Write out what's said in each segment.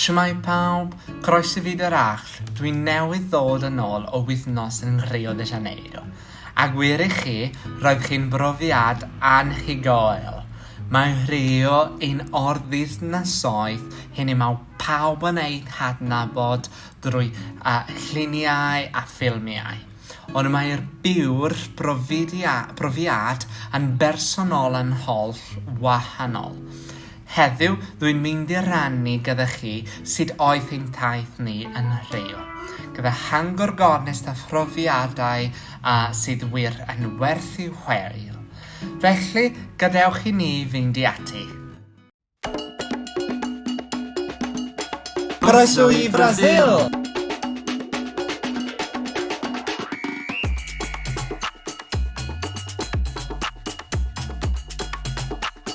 Shwmae pawb, croes i fyd yr Arll, dwi newydd ddod yn ôl o wythnos yn Rio de Janeiro, a gwir i chi, roedd chi'n brofiad anhygoel! Mae Rio yn ordwythnasoedd hynny mae pawb yn eu hadnabod drwy lluniau a ffilmiau, ond mae'r byw'r profiad yn bersonol yn holl wahanol. Heddiw, rwy'n mynd i rannu gyda chi sut aeth ein taith ni yn Nhreio, gyda hangor gornest a phrofiadau a sydd wir yn werth i'w hwyl. Felly, gadewch i ni fynd i ati! Croeso i Frasil!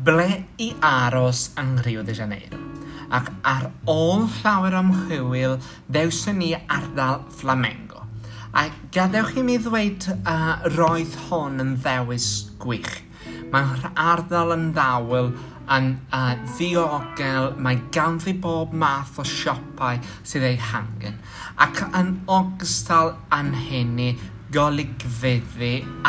Ble i aros yng Rio de Janeiro, ac ar ôl llawer o ymchwil ddewson ni ardal Flamengo, a gadewch i mi ddweud y roedd hon yn ddewis gwych. Mae'r ardal yn ddawel, yn ddiogel, mae ganddi bob math o siopau sydd eu hangen, ac yn ogystal â'n heni golygfeydd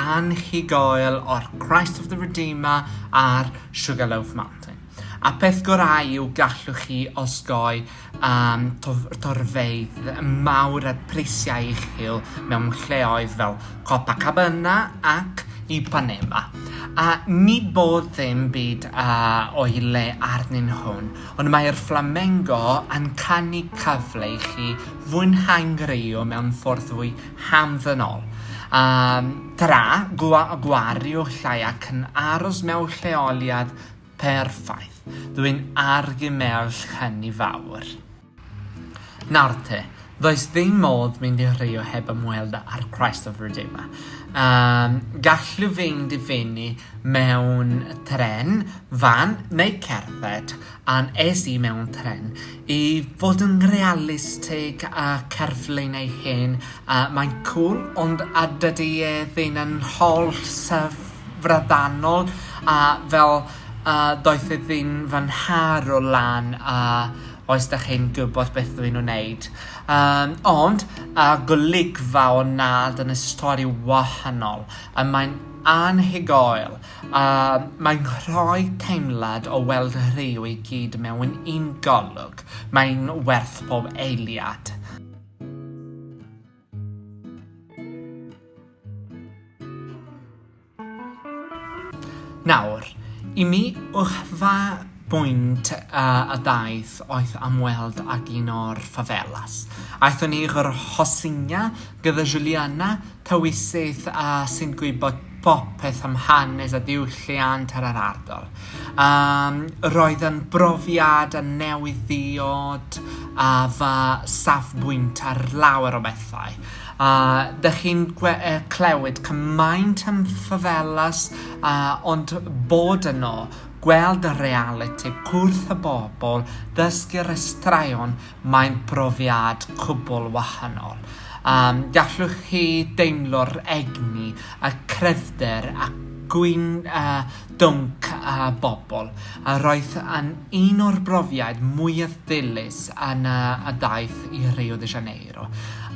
anhygoel o'r Christ of the Redeemer a'r Sugarloaf Mountain. A'r peth gorau yw gallwch chi osgoi am torfeydd mawr a phreisiau uchel mewn lleoedd fel Copacabana ac Ipanema. A nid bod dim byd o'i le arnyn nhw. Ond mae'r fflamengo yn canu cyfle i chi fwynhau ngwreio mewn ffordd fwy hamddenol. Am dra, gwa, gwario llai ac yn aros mewn lleoliad perffaith. Dw i'n argymell hynny fawr. Nawr te, does ddim modd mynd i Rio heb ymweld â'r Christ of Redeemer. Um, gallu fynd i fyny mewn tren, fan neu cerdded, a'n es i mewn tren. I fod yn realistig a cerflun ei hen, uh, mae'n cool, ond a dydy e ddim yn holl syfradanol, a fel uh, doeth e ddim fy nharo lan a Oes da chi'n gwybod beth dw i'n wneud? Yym, ond, a golygfa o nad yn y stori wahanol, a mae'n anhygoel, a mae'n rhoi teimlad o weld rhyw i gyd mewn un golwg, mae'n werth pob eiliad. Nawr, i mi, uchfa bwynt a ddaeth oeth am weld ag un o'r favelas. Aethon ni i'r Rocinha gyda Juliana, tawysyth a sy'n gwybod popeth am hanes a diwylliant ar yr ardal. Um, roedd yn brofiad a newydd ddiod a fa safbwynt ar lawer o bethau. A dych chi'n clywed cymaint yn Favelas a ond bod yno, gweld y realiti, cwrdd y bobl, dysgu'r straeon, mae'n brofiad cwbl wahanol. Um, gallwch chi deimlo'r egni, y cryfder a gwyn uh, dwnc uh, bobl. A roedd yn un o'r brofiad mwyaf ddilys yn uh, y daith i Rio de Janeiro.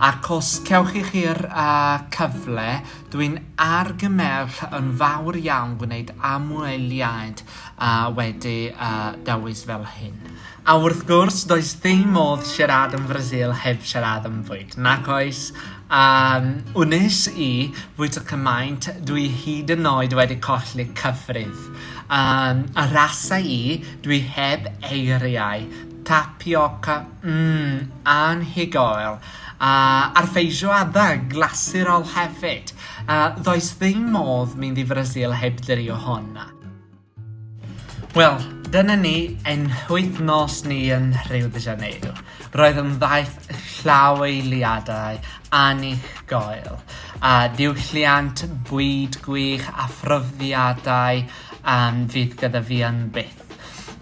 Ac os cewch i chi'r uh, cyfle, dwi'n argymell yn fawr iawn gwneud amweliad uh, wedi uh, dewis fel hyn. A wrth gwrs, does ddim modd siarad yn Brasil heb siarad am fwyd, nac oes? Um, wnes i fwyd y cymaint, dwi hyd yn oed wedi colli cyfrif. Um, a rasa i, dwi heb eiriau Tapioca, mm, anhygoel. A a'r feijoada, glasurol hefyd. A ddoes ddim modd mynd i Frasil heb drio hwn. Wel, dyna ni ein wythnos ni yn Rio de Janeiro. Roedd yn ddaeth llaweliadau anhygoel, a diwylliant, bwyd gwych a phrofiadau um, fydd gyda fi yn byth.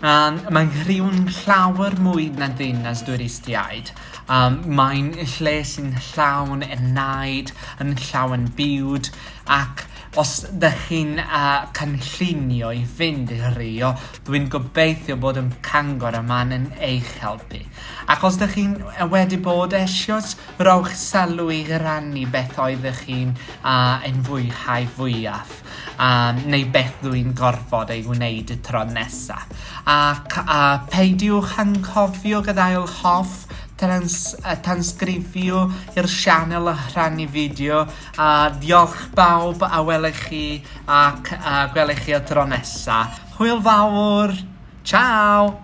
A'n mae Nghriw'n llawer mwy na ddinas dwristiaid, a'n mae'n lle sy'n llawn enaid, yn llawn bywyd, ac os dych chi'n a cynllunio i fynd i Rio, dwi'n gobeithio bod yn Cangor y man yn eich helpu. Ac os dych chi'n a wedi bod eisios, rowch sylw i rannu beth oeddech chi'n a ein fwyhau fwyaf. a neu beth rwy'n gorfod ei wneud y tro nesa. Ac a pheidiwch anghofio gadael hoff trans a tansgrifio i'r sianel a rhannu fideo a diolch bawb a welech chi ac a gwelech chi y tro nesa. Hwyl fawr! Ciao!